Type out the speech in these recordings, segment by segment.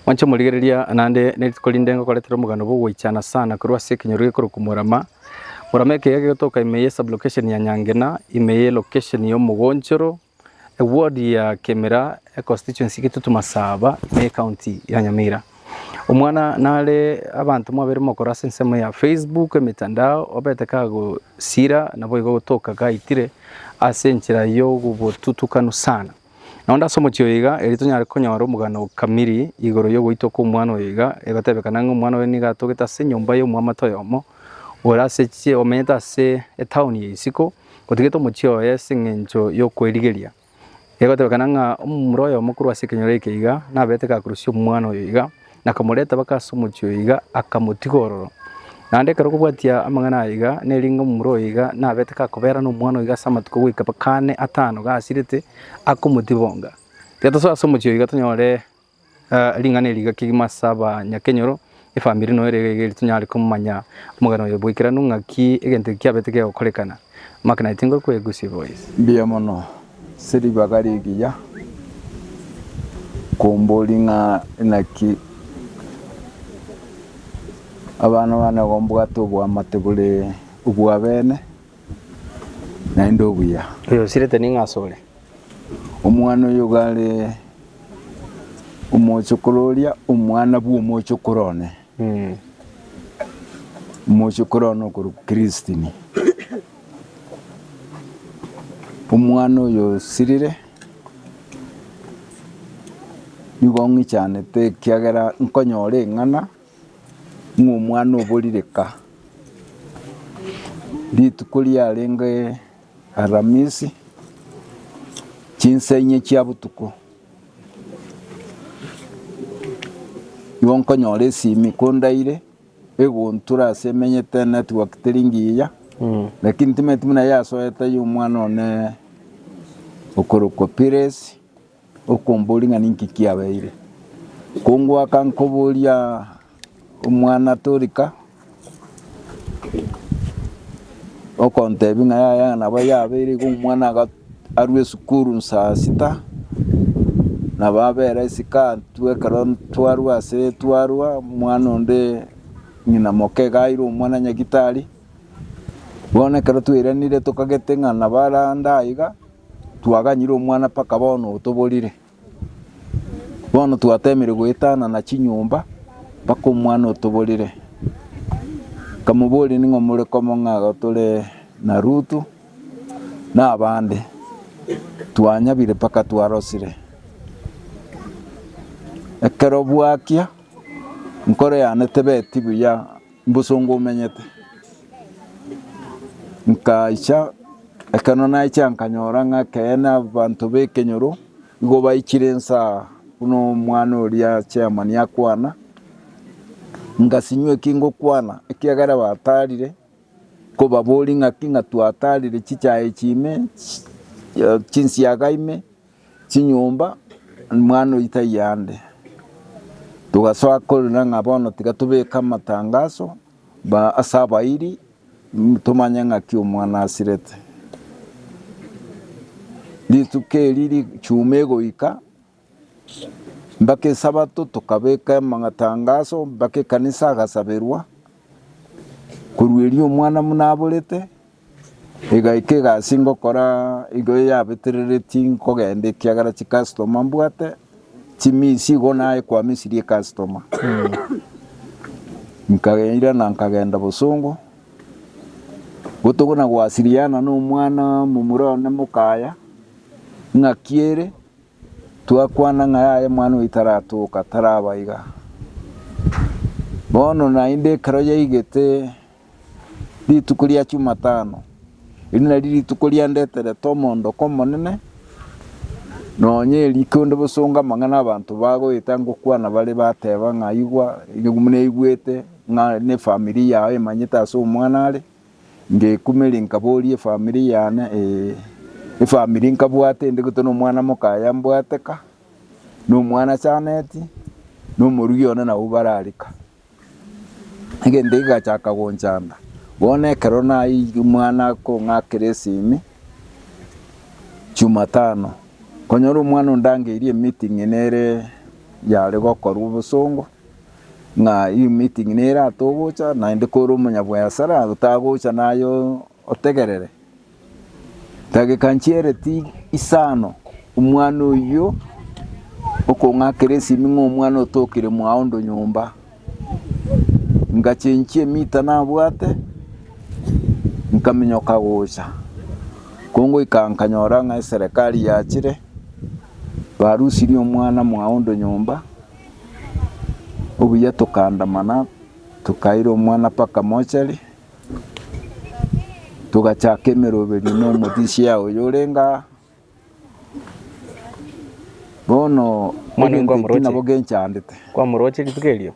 Mwanche morigereria naende nerituko rinde ngokoretera omoganda bw'ogoichana sana korwa ase ekenyoro gekorokwa Murama. Murama ekeiga gegotoka ime ye sublocation ya Nyangena, ime ye location ya Omogonchoro, eward ya Kemira, econstituency ya Kitutu Masaba, ime ye county ya Nyamira. Omwana nare abanto mwabere mogokora ase ensemo ya Facebook, emetandao, obete kagosira naboigo ogotoka gaitire ase enchera y'obotutukanu sana. Na onde ase omochie oyo iga, erio tonyare konyora omogano o kamiri igoro y'ogoitwa kw'omwana oyo iga, egotebekana ng'a omwana oye nigo atogete ase enyomba y'omwamate oyomo, ore ase chie, omenyete ase etaoni ya isiko, otigete omochie oye ase eng'encho y'okwerigeria. Egotebekana ng'a omomura oyomo korwa ase ekenyoro eke iga, naberete gakurusia omwana oyo iga, Nakamoreta baka ase omochie oyo iga, akamotiga ororo. Naende ekero okobwatia amang'ana aya iga, neringa omomura oyo iga nabete gakoberana omwana oyo iga ase amatuko goika baka ane atano gasirete, akomotibonga. Tiga tosoe ase omochie oyo iga tonyore ring'ana eri iga kegima ase abanyakenyoro, efamiri noyo ere iga iga erio tonyare komanya omogano oyo bwaikeranu ng'aki egento eki kiabete kegokorekana. Mbuya mono, ase ribaga rigiya komborie ng'a inaki abana bane gombwate oboamate bore obwabene naende obuya. Omwana oyo gare omochokoro oria omwana bw'omochokoro one. Omochie korwa one okorokwa Kristine, omwana oyo osirire, nigo ng'ichanete ekiagera nkonyora eng'ana ng'a omwana oborire ka. Rituko riarenge Aramisi, chinsa inye chia botuko. Nigo nkonyora esimi kondaire egontura ase emenyete network teri ngiya lakini timanyeti buna yasoete ya omwana one okorokwa Pires okomboria ng'a ninki kiabeire. Kongoaka nkoboria Omwana torika okontebi ng'a yaya nabo yabeire igo omwana aga- arwe esukuru saa sita, nabo abere isiko atwo ekero twarwa ase twarwa omwana onde ng'ina moke iga aire omwana nyagitari, bono ekero twairanire tokagete ng'a nabo arande aiga, twaganyire omwana mpaka bono otoborire. Bono twateemire goetanana chinyomba mpaka omwana otoborire. Nkamoboria, Ning'o more komong'aga tore na Ruthu na abande? Twanyabire mpaka twarosire. Ekero bwakia, enkoro yane tebeti buya. Mbosongo omenyete. Nkaicha, ekero naicha nkanyora ng'a ekeene abanto b'ekenyoro nigo baichire inse aa buna omwana oria chairman akwana, ngasinywa eki ngokwana ekiagera batarire, nkobaboria ng'aki ng'a twatarire chichae echi ime, chinsiaga ime. chinyomba mwana oito taiyo ande. Togasoa korenda ng'a bono tiga tobeke amatangaso ase abairi tomanye ng'aki omwana asirete. Rituko eri ri'chuma egoika mpaka esabato tokabeka amatangaso mpaka ekanisa agasaberwa korwa erio omwana buna aborete. Igaika egasi ngokora igo eyabetereretie nkogenda ekiagera chicustoma mbwate chimisi igo naye kwamisirie ecustoma. Nkairana nkagenda bosongo botuko na gwasiriana na omwana momura one mokaya ng'aki ere twakwana ng'a yaya omwana oyo taratoka taraba iga. Bono naende ekero yaigete Rituko ria Chumatano, erio nario rituko riandeterete omoondoko omonene, nonya erikio onde bosongo amang'ana abanto bagoeta ngokwana bare bateba ng'a igwa naigwete ng'a nefamiri yao emanyete ase omwana are, ngekumeri nkaboria efamiri yane efamiri nkabwate ende gete na omwana mokaye mbwate ka, na omwana achaneti, na omorugi one nabo barare ka. Egento kegachaka gonchanda, bono ekero naiyirie omwana akong'akera esimi, Jumatano, nkonyora omwana ondangeirie emeeting ng'a nere yare gokorwa obosongo, ng'a eyio emeeting nere atogocha, naende kore omonyabwayasara otagocha naye otegerere. Dageka nchiereti isano, omwana oyio okong'akera esimi ng'a omwana otokire mwaondo nyomba. Ngachenchia emita nabwate, nkaminyoka gocha. Kongoika nkanyora ng'a eserekari yachire, barusirie omwana mwaondo nyomba, obuya tokaandamana tokaira omwana mpaka mochari. togachaka emeroberio nomotisia oyo orenge aa. Bono Omwana egento ekio nabo kwamoroche. genchandete. Kwamoroche rituko erio,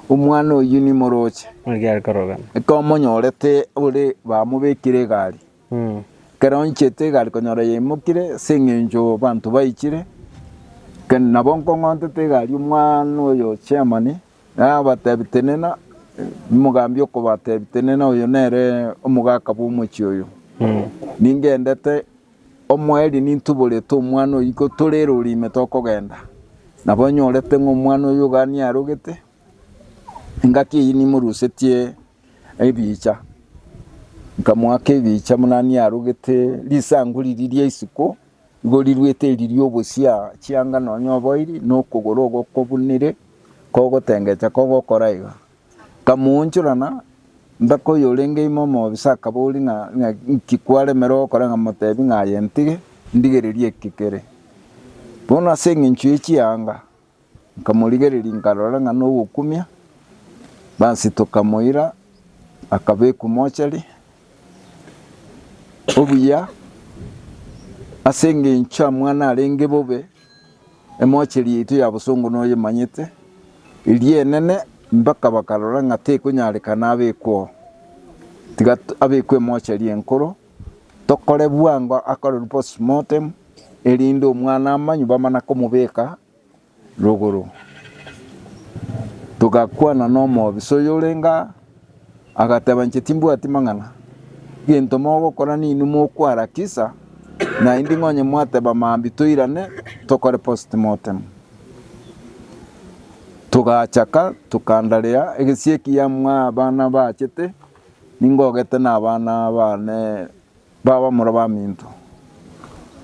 Omwana oyio nimoroche, buna kiare korogana. ekomonyorete ore bamobekire egari, Mm. ekero onchete egari konyora yaimokire ase eng'encho abanto baichire, ken- nabo nkong'ontete egari omwana oyo chairman. Nabateebie, Tenena, mogambi okobateebia, Tenena, oyo nere omogaka bw'omochie oyo. Ningendete, omoerio nintuborete omwana oyio iko tore ere ore ime tokogenda. Nabo nyorete ng'a omwana oyio iga niye arogete, engaki eyio nimorusetie ebiicha. Nkamoaka ebiicha buna niye arogete, risangu riria ria isiko igo riruete eri ri'obosia chianga nonya oboiri, na okogoro ogokobunire. Kogotengecha kogokora iga, nkamoonchorana, Mbeka oyorenge ime omobisa akaboria ng'a ng'a inki kwaremire gokora ng'a motebi ng'a aye ntige, ndigererie eki kere. Bono ase engencho ye chianga nkamorigereria nkarora ng'a nogokumia, basi tokamoira akabekwa mochari. Obuya ase engencho amang'ana arenge bobe. Emocheri yaito ya bosongo noyemanyete, eria enene, mpaka bakarora ng'a tekonyarekana abekwe oo. Tiga abekwe emocheri enkoro, tokore bwango akorerwe postmortem, erinde omwana amanywe bamana komobeka rogoro. Togakwana nomobisa oyorenge aa, Agateba, Inche timbwati mang'ana. Egento mogokora ninwe mokwarakisa, naende ing'o onye mwateba mambia toirane tokore postmortem. Togachaka tokanda rea egesie ekiya mwa abana bachete ningogete na abana bane babamura baminto.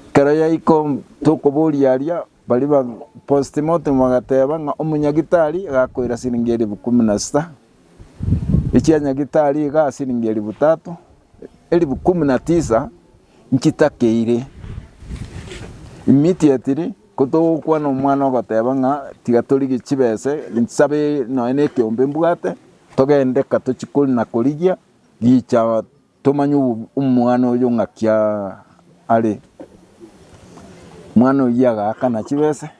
Ekero yaiko tokoboria aria Baria ba postmortem bagateeba ng'a omonyagitari agakoira siringi elifu ikomi na sita, echia nyagitari igaa siringi elifu tatu, elifu kumi na tisa nchitakeire. Immediately kotogokwana omwana ogoteeba ng'a tiga torigie chibesa nsabe nonye na ekeombe mbwate togende ka tochie kori na korigia gicha. Tomanya omwana oyo ng'aki are. Omwana oyio agaakana chibese,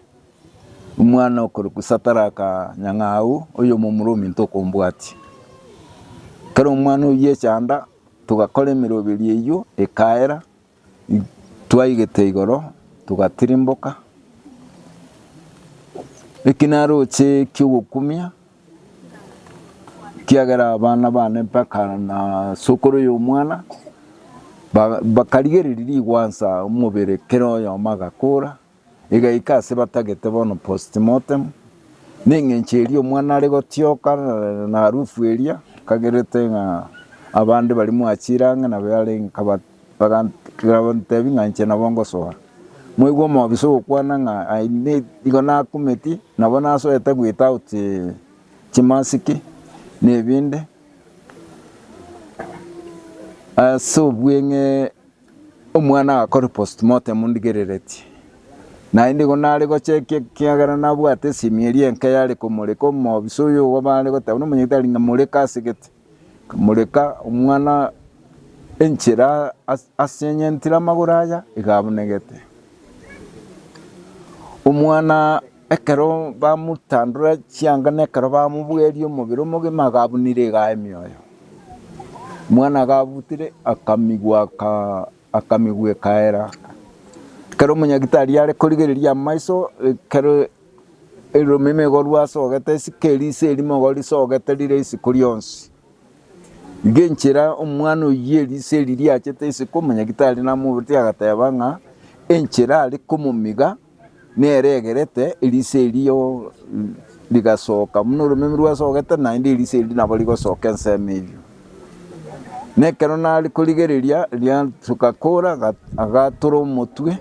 omwana okorokwa Sataraka nyang'au, oyomo Omorumi ntokombwatia. Ekero omwana oyio echanda, togakora emeroberio eyio ekaera. Twaigete igoro, togatirimboka, ekinaroche ki'ogokumia, ekiagera abana bane mpaka na sokoro y'omwana, ba- bakarigereria rigwansa omobere kera oyomo agakora. Igaika ase batagete bono postmortem, neng'encho eria omwana are gotioka na arufu eria ekagerete ng'a abande baria mwachire ang'e nabo yare nkaba bagantebia ng'a inche nabo ngosoa. Mwaigwa omobisa ogokwana ng'a I need igo nakumeti nabo nasoete without chimasiki na ebinde ase obweng'e. Omwana agakore postmortem ndigereretie. Naende igo nare gocha ekia ekiagera nabwate esimi eria enke yare komoreka omobisa oyo ogo bare goteba buna omonyete are ng'a moreka ase gete. Kamoreka omwana enchera as asenyentire amagoro aya iga abunegete. Omwana Ekero bamotandora chianga na ekero bamobweria omobere omogima agabunire iga emioyo. Omwana agabutire akamigwa aka- akamigwa ekaera. Ekero omonyagitari are korigereria amaiso ekero eromeme igo rwasogete esike eriso erimo igo risogete rire isiko rionsi. Iga enchera omwana oyio eriso eri riachete isiko omonyagitari namoboretie agateba ng'a enchera are komomiga neregerete eriso erio rigasoka buna oromemi rwasogete naende eriso erio nabo rigosoka ensemo eyio. Na ekero nare korigereria riasoka kora agatora omotwe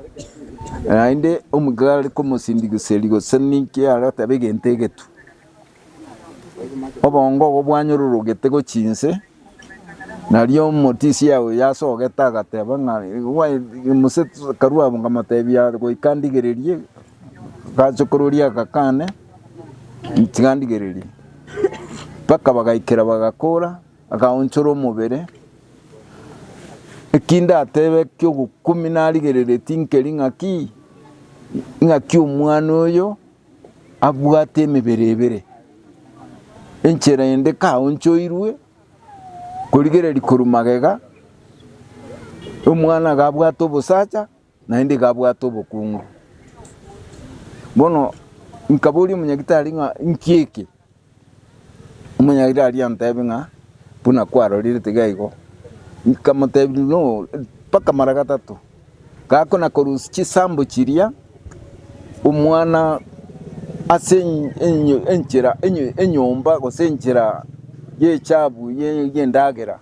naende omika are komosindigiseri gose ninki are goteba egento egetwe. Obongo obo bwanyororogete gochia inse, nario omotisia oyo yasogete agateba ng'a mose karue abwo nkamotebia goika ndigererie, agachokora oria agakane tiga ndigererie. Mpaka bagaikera bagakora, agaonchora omobere, eki ndatebe kia ogokumia narigereretie nkeri ng'aki, ng'aki omwana oyo. abwate emebere ebere, enchera ende kaonchoirwe korigereria korwa magega, omwana iga abwate obosacha naende iga abwate obokungu. Bono nkaboria omonyagitari ng'a inki eke? Omonyairi aria anteebie ng'a buna kwarorire tiga igo. Nkamoteebia no mpaka mara gatato. Gakona korusia chisambo chiria omwana ase enchera enyomba gose enchera y'echabu y'endagera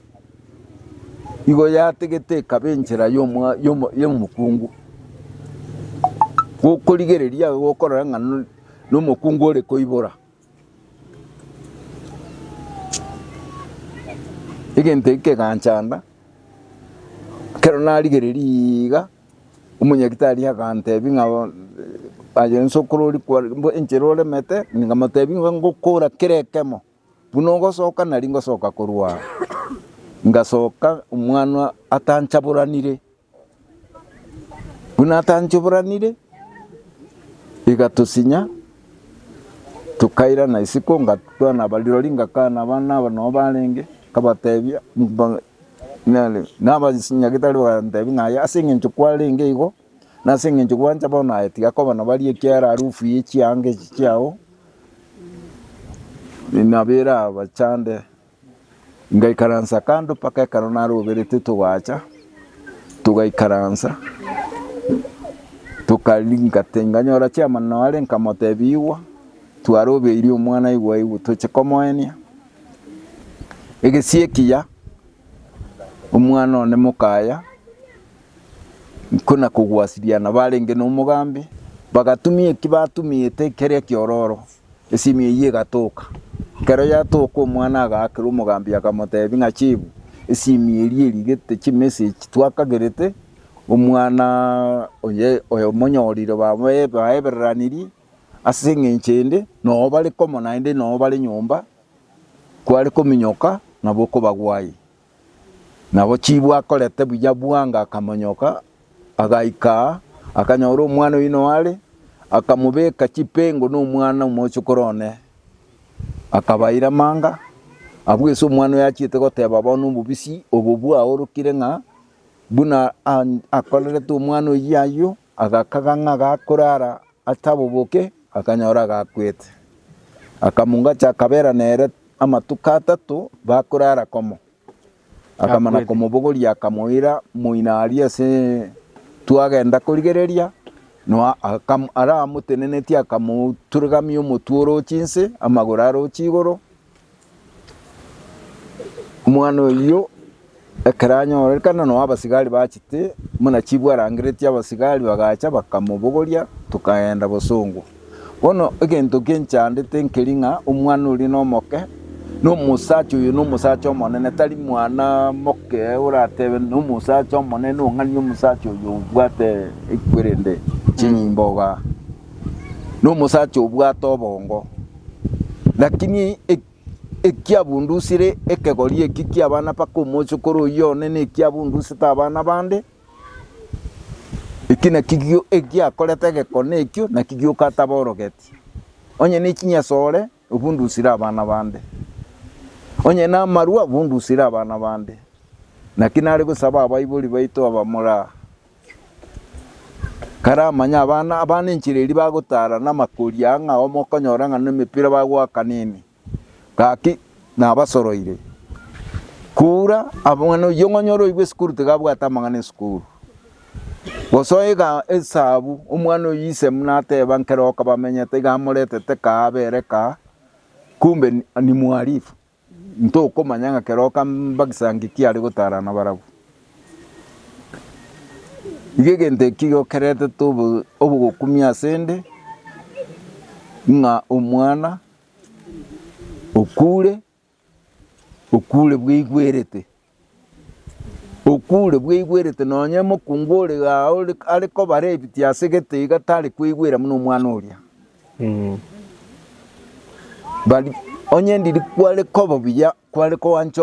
igo yategete ekaba enchera y'omokungu. Gokorigereria igo okorora ng'a. Nomokungu ore koibora egento eke keganchanda, ekero narigereria iiga, omonyagitari agantebia ng'a aye inse okorori kware mbo enchera oremete, nkamotebi ng'a ngokora kera ekemo, buna ogosoka nari ngosoka korwa aa. Ngasoka omwana atanchaboranire. Buna atanchoboranire, igatosinya, tokairana isiko ngatwana abarirori ngakana abana aba nabo barenge, nkabatebia nere na abanyagetari bagantebia ng'a aye ase eng'encho kwarenge igo, na ase eng'encho gwancha bono aye tiga koba nabo aria ekiara arufu ya echianga echi chiao, nabo erabachande. Ngaikaransa kando mpaka ekero naroberete togaacha, togaikaransa, tokaringa tinganyora chiamanano are, nkamotebia igwa, twarobeirie omwana igwa igwa toche komoenia. Egesie ekiya, omwana one mokaya, nkona kogwasiriana barenge nomogambi, bagatumia eki batumiete keria ekiororo. Esimi eyio egatoka. Ekero yatoka omwana agaakera omogambi akamoteebia ng'a chibu esimi eria erigete chimessage twakagerete omwana oye oyomonyorire babae baebereranirie ase eng'encho ende noo bare komo naende noo bare nyomba kware kominyoka nabo okobagwa aye. Nabo chibu akorete buya bwango akamonyoka, agaika aa, akanyora omwana oino are, akamobeka chipengo nomwana omochokoro one, akabaira amanga, abwo ase omwana oyo achiete goteba bono obobisi obo bwaorokire ng'a buna akorerete omwana oyio ayio, Agakaga ng'a gakorara ataboboke, akanyora agakwete. Akamungacha akabeera nere amatuko atato bakorara komo. Akamana komobogoria akamoira moino aria ase twagenda korigereria, na aramotenenetie akamoturigamia omotwe oroche inse, amagoro aroche igoro, Omwana oyio ekero anyorekana nao abasigari bachete buna chifu arangeretie abasigari bagacha bakamobogoria tokaenda bosongo. Bono egento eke nchandete nkeri ng'a omwana oria nomoke na omosacha oyo na omosacha omonene tari mwana moke oratebe na omosacha omonene ong'ania omosacha oyo obwate ekwerende chinyimboga na omosacha obwate obongo. Lakini ekiabundusire ekegori eki ki'abana mpaka omochokoro oyio one nekiabundusete abana bande, eki nakio egiakorete egekone ekio, naki gioka ataborogetie. Onye nechinyasore obundusire abana bande, onye namarwa obundusire abana bande, naki nare gosaba abaibori baito abamore aa, karamanye abana abana enchera eria bagotara na amakori aya ng'a omokonyora ng'a na emepira bagoaka nini, gaki nabasoroire. Kura abana oyio ng'a onyore oigwe esukuru tiga abwate amang'ana esukuru. Gose oiga esabu omwana oyio ise buna ateba nkere oka bamenyete iga amoretete kaa abere kaa kumbe ni mwarifu. Ntokomanya ng'a kera okambagisa ng'iki are gotara nabarabwo. Iga egento ekio igo keretete obogokumia asende, ng'a omwana okure, okure bweigwerete. Okure bweigwerete nonya omokungu ore aa are kobara ebiti ase gete iga tari kweigwera buna omwana oria. Bari onye ndiri kware koba buya kware koancha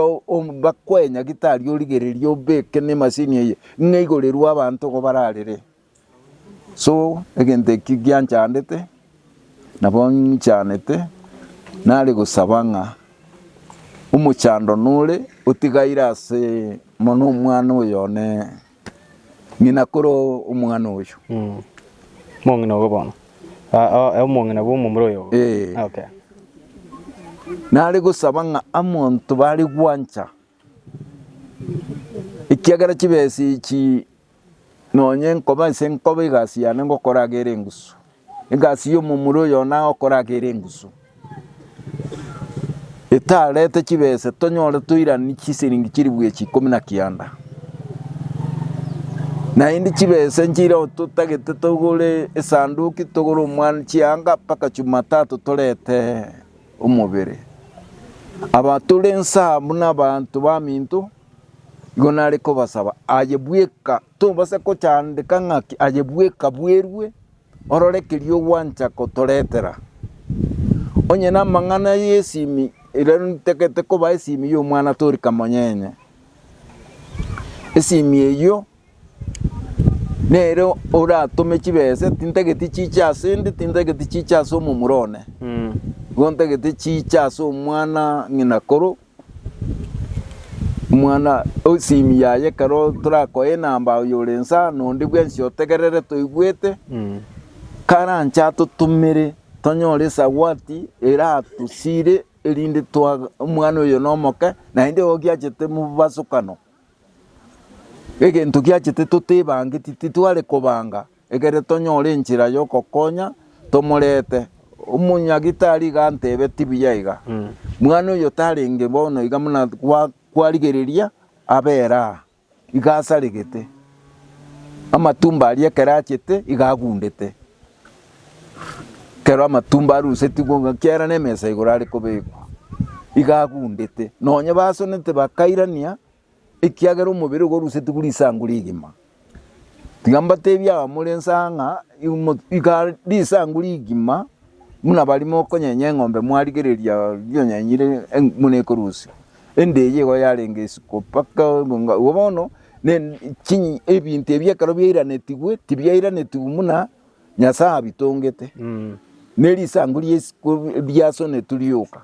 bakoe nyagitari origereria obeke nemasini eye ng'a igorerwe abanto igo bararere. So egento eki gianchandete, nabo ng'ichanete, nare gosaba ng'a omochando nore otigaire ase mono omwana oyo one ng'ina kore omwana oyo. Omong'ina ogo bono. Ah, oh, eh, omong'ina bw'omomura oyo. Eh. Okay. Nare gosaba ng'a amonto bare gwancha Ekiagera chibesa echi nonye nkoba ase nkoba egasi yane ngokora iga ere engusu, egasi ya omomura oyo one agokora iga ere engusu, etarete chibesa tonyore toiraneria chisiringi chiri bwechi ikomi na kianda. Naende chibesa inche igo totagete togore esanduki togore omwani chianga mpaka Jumatatu torete. omobere. Aba tore nsa buna abanto baminto, igo nare kobasaba aye bweka, tobasa kochandeka ng'aki aye bweka bwerue, orore keria ogwancha gotoretera. Onye namang'ana y'esimi, rirorio nitagete koba esimi y'omwana tori kamonyenye. Esimi eyio Nere oratome chibese tintageti chiche ase 'nde, tintageti chiche ase omomura one, Mm. igo ntagete chiche ase omwana ng'ina koro, omwana esimi yaye ekero torakoe enamba oyore inse aa, na onde bwensi otegerere toigwete, Mm. karanche atotomere tonyore esawati eratosire erinde twa omwana oyo nomoke, naende ogiachete mobasokano. Egento giachete totebangeti titware kobanga egere tonyore enchera yogokonya tomorete. Omonyagitari iga antebe tibuya iga. Mwana oyo tarenge bono iga muna gwa kwarigereria abera aa. Iga asaregete. Amatumbo aria ekero achete iga agundete. Ekero amatumbo arusetigwe igo ekiagera nemesa igoro are kobekwa, iga agundete, nonye basonete bakairania ekiagera omobere iga orusetigwe risangu rigima. Tiga mbatebie abamore inse aa ng'a iga risangu rigima buna baria mokonyenye eng'ombe mwarigereria rionyenyire buna ekorusia. Ende eye igo yarenge isiko mpaka ng'a igo bono ebinto ebi ekero biairanetigwe tibiairanetigwe buna Nyasae abitongete, ne risangu ria isiko riasonetwe rioka.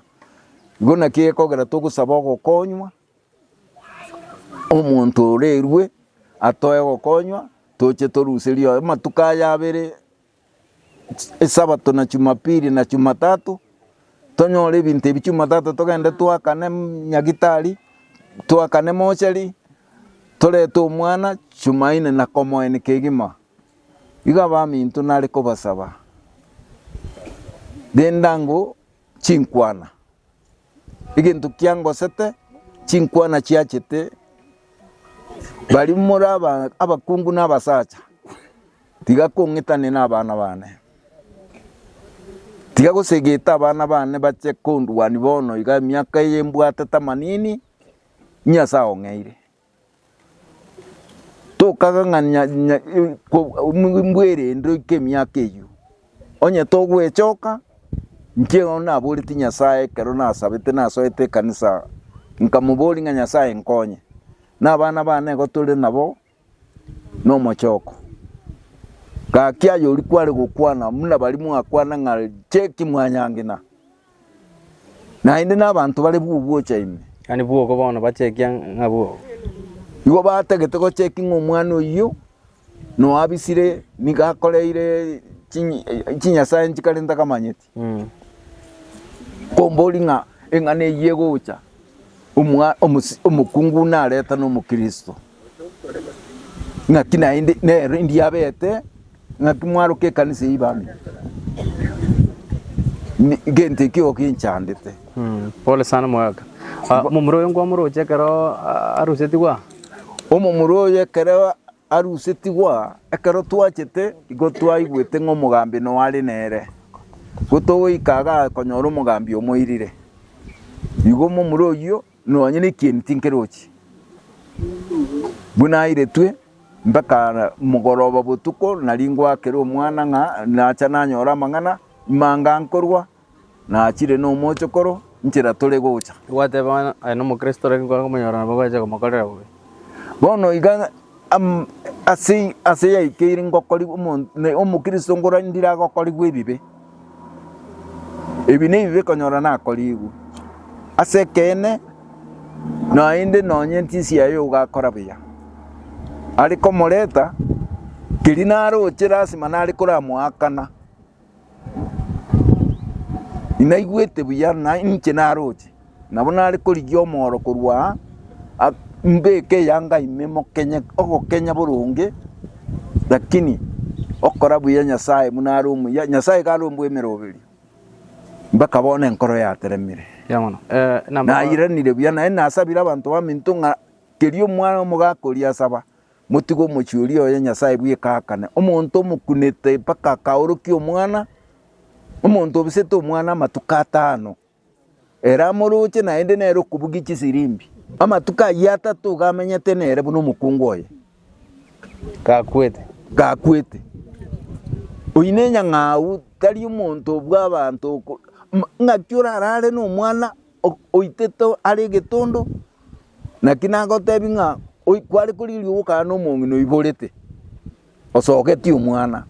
Igo naki egekogera togosaba ogokonywa, omonto orerwe atoe ogokonywa toche toruserie amatuko aya abere. Esabato na Jumapili na Jumatatu, tonyore ebinto ebi Jumatatu togende twakane nyagetari, twakane mochari, torete omwana Jumanne na komoenia kegima. Igo abaminto nare kobasaba, rende ango chinkwana, egento kiangosete chinkwana chiachete, baria more aba- abakungu na abasacha. Tiga kong'itania nabana bane. Tiga gosegeta abana bane bache kondwania bono iga emiaka eye mbwate tamanini ng'a ase ao ng'eire. Tokaga ng'a mbwerende oike emiaka eyio, onye togwechoka inche igo naboretie Nyasae ekero nasabete nasoete ekanisa nkamoboria ng'a Nyasae nkonye, nabana bane igo tore nabo Nomochoko, gaki ay'oria kware gokwana buna baria mwakwana ng'a cheki mwanyangina, naende nabanto bare bw'ogocha ime. Gani bw'ogo bono bachekia ng'a bw'ogo. Igo batagete gocheki ng'a omwana oyio noabisire nigo akoreire chinyi- chinyasae nchikare ntakamanyeti. Kombori ng'a eng'ana eyio egocha, omokungu buna areta n'omokristo, ng'aki naende nere ndiabete ng'aki mwaroke ekanisa eyio bambe, gento ekio igo kinchandete. Pole sana omogaka. Omomura oyo nkwamoroche ekero arusetigwe aa? Omomura oyo ekero. arusetigwa ekero twachete igo twaigwete ng'a omogambi noare nere, igo togoika agakonyora omogambi omoirire. Igo momura oyio nonye na ekieni tinkerochi, buna airetwe mpaka mogoroba botuko nari ngoakere omwana ng'a nacha nanyore amang'ana, imanga nkorwa. Nachire nomochokoro nchera tore gocha. Gwateba ng'a aye nomokristo lakini kware komonyora nabo bache komokorera bobe. Bono iga ase ase yaikeire ngokorigwe omonto omokristo ngora ndire agokorigwe ebibe. Ebi nebibe ekonyora nakorigwe ase ekeene naende nonye entisi yaye ogakora buya are komoreta keri naroche lasima nare koramoakana. Inaigwete buya, na inche naroche, nabo nare korigia omooro korwa aa, mbeke eyanga ime mokenye ogokenya boronge, rakini okora buya Nyasae buna are omuya, Nyasae iga are ombwemeroberio, mbaka bono enkoro yateremire. Buya mono. Eh, namba- Nairanire buya, naende nasabire abanto baminto ng'a kerio omwana omogaka oria asaba, Motige omochie oria oye Nyasae bweka aakane, omonto omokunete mpaka akaorokia omwana, omonto obisete omwana amatuko atano, ere amoroche naende nere okobugia chisirimbi. Amatuko ayio atato iga amenyete nere buna omokungu oye Gakwete. gakwete. Oyio nenyang'au tari omonto bw'abanto oko- M- ng'aki orarare nomwana oitete are egetondo, naki nagotebie ng'a kware korigia ogokana na omong'ina oiborete, osogeti omwana.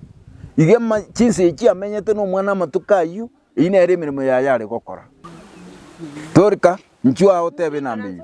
Iga ama chinsa echio chiamenyete na omwana amatuko ayio, eyio nere emeremo yaye are gokora. Tori ka, inchuo agoteba enamba eyio.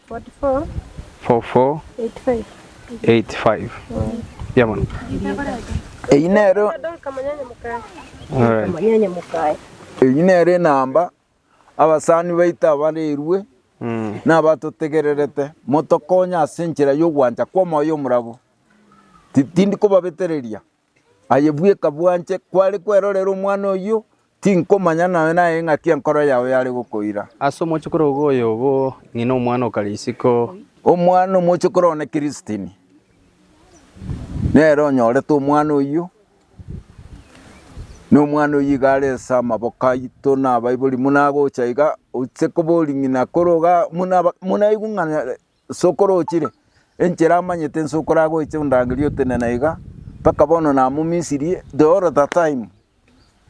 Eyio nero enamba abasani baito abarerwe nabatotegererete motokonye ase enchera yogwancha kwa omoyo omorabu. Tindi kobabetereria Aye bweka bwanche kware kwerorera omwana oyio, tinkomanya naye naye ng'aki enkoro yao yare gokoira. Ase omochokoro ogo oyobo, ng'ina omwana o Karisiko. Omwana omochokoro one Kiristini, nere onyorete omwana oyio, na omwana oyio iga are ase amaboko aito na abaibori. Buna agocha iga, oche kobori ng'ina kore iga, buna aigwe ng'a Inse okorochire, enchera amanyete inse okoragoiche ondangerie otenena iga, mpaka bono namomisirie the whole the time,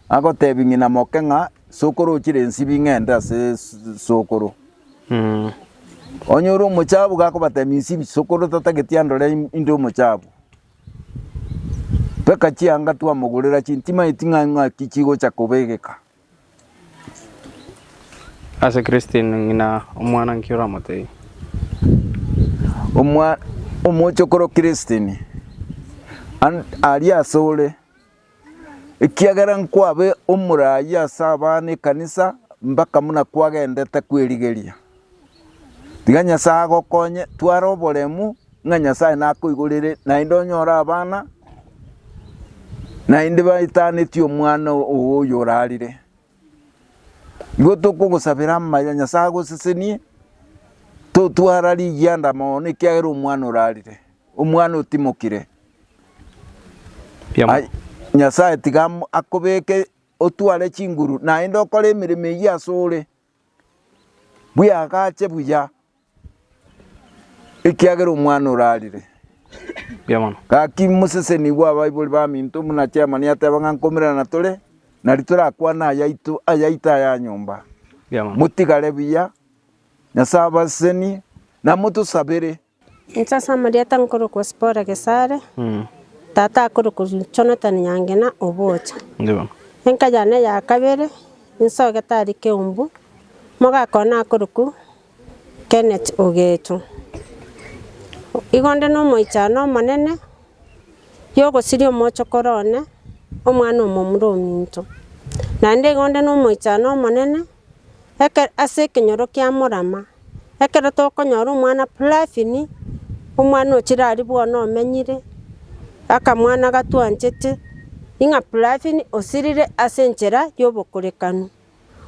agotebia ng'ina moke ng'a inse okorochire ensibi ng'ende ase sokoro. Onye ore omochabu iga akobatebia insibi sokoro tatageti andore in- inde omochabu. Mpaka chianga twamogorera chintimaeti ng'a ng'aki chigocha kobegeka. Ase Christine, ng'ina omwana nki oramotebie? Omochokoro Christine, aria asore, ekiagera nkwabe omoraai ase abana ekanisa mpaka buna kwagendete kw'erigeria. Tiga Nyasae agokonye tware oboremu ng'a Nyasae nakoigorere naende onyore abana naende baetaneti omwana oo oyo orarire. Igo tokogosabera amaya Nyasae agosesenie totwara rigianda mono ekiagera omwana orarire, omwana otimokire. Riamabo. Ai, Nyasae tiga amo- akobeke otware chinguru naende okore emeremo eyio asore. Bweagache buya, ekiagera omwana orarire. Gaki moseseni bw'abaibori baminto buna chairman ateba ng'a nkomererana tore, nari torakwane ayaito, ayaito aya nyomba. Motigare buya, Nyasae abasesenie, na motosabere. Inche ase amarieta nkorokwa Sipora Gesare, tata akorokwa Jonathan Nyangena Obocha. Enka yane ya kabere nsogete aria Keumbu, mogaka one akorokwa Kenneth Ogecho. Igo nde na omoichano omonene ya ogosiria omochokoro one, omwana omomura ominto. Naende igo nde na omoichano omonene Ekero ase ekenyoro kia morama, ekero tokonyora omwana Plavini, omwana ochire aria bono omenyire, akamwana gatwanchete, ing'a Plavini osirire ase enchera y'obokorekanu.